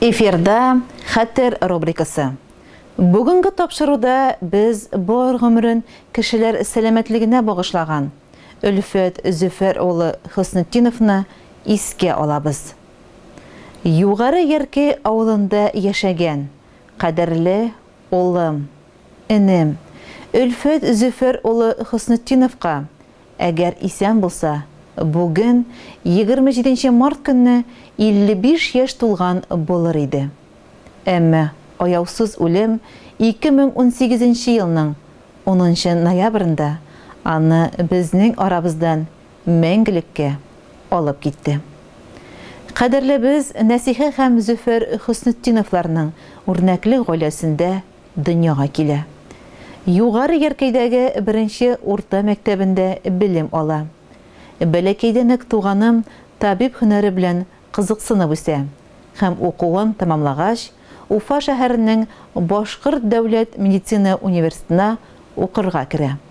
Эфирда хәтер рубрикасы. Бүгенге тапшыруда без бар гомерен кешеләр сәламәтлегенә багышлаган Өлфәт Зөфәр улы Хөснетдиновны искә алабыз. Югары Ярке авылында яшәгән, кадерле Улым, энем, Өлфәт Зөфәр улы Хөснетдиновка, әгәр исән булса, бүген, егерме җиденче март көнне 55 яшь тулган булыр иде. Әмма аяусыз үлем 2018 елның унынчы ноябрендә аны безнең арабыздан мәңгелеккә алып китте. Кадерлебез Нәсихә һәм Зөфәр Хөснетдиновларның үрнәкле гаиләсендә дөньяга килә. Югары Яркәйдәге беренче урта мәктәбендә белем ала. Бәләкәйдән үк туганым табиб һөнәре белән кызыксынып үсә һәм укуын тәмамлагач, Уфа шәһәренең Башкорт дәүләт медицина университетына укырга керә.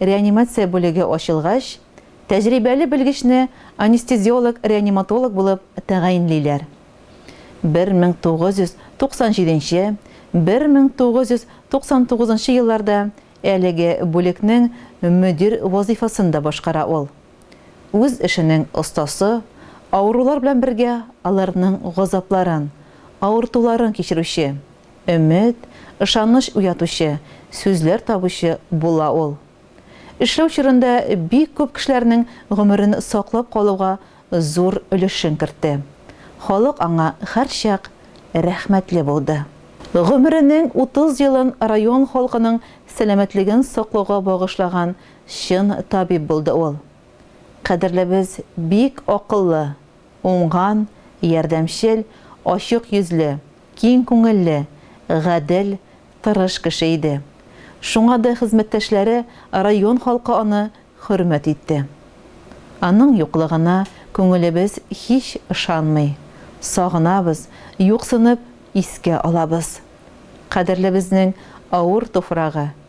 Реанимация бүлеге ачылгач, тәҗрибәле белгечне анестезиолог-реаниматолог булып тәгаенлиләр. 1997, 1999 елларда әлеге бүлекнең мөдир вазыйфасын да башкара ул. Үз эшенең остасы, авырулар белән бергә аларның газапларын, авыртуларын кичерүче, өмет, ышаныч уятучы, сүзләр табучы була ул. Эшләү чорында бик күп кешеләрнең гомерен саклап калуга зур өлешен кертте. Халык аңа һәрчак рәхмәтле булды. Гомеренең 30 елын район халкының сәламәтлеген саклауга багышлаган чын табиб булды ул. Кадерлебез бик акыллы, уңган, ярдәмчел, ачык йөзле, киң күңелле, гадел, тырыш кеше иде. Шуңа да хезмәттәшләре, район халкы аны хөрмәт итте. Аның юклыгына күңелебез һич ышанмый. Сагынабыз, юксынып искә алабыз. Кадерлебезнең авыр туфрагы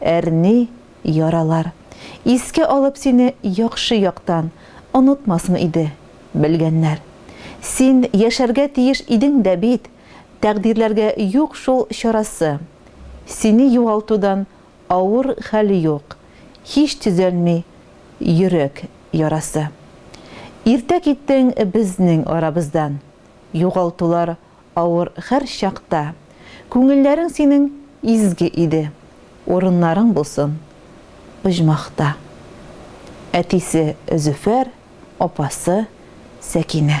Әрни, яралар. Искә алып сине яхшы яктан, Онытмасын иде, белгәннәр. Син яшәргә тиеш идең дә бит, Тәкъдирләргә юк шул чарасы. Сине югалтудан авыр хәл юк, Һич төзәлми йөрәк ярасы. Иртә киттең безнең арабыздан, Югалтулар авыр хәр чакта, Күңелләрең синең изге иде, Урыннарың булсын оҗмахта. Әтисе Зөфәр, апасы Сәкинә.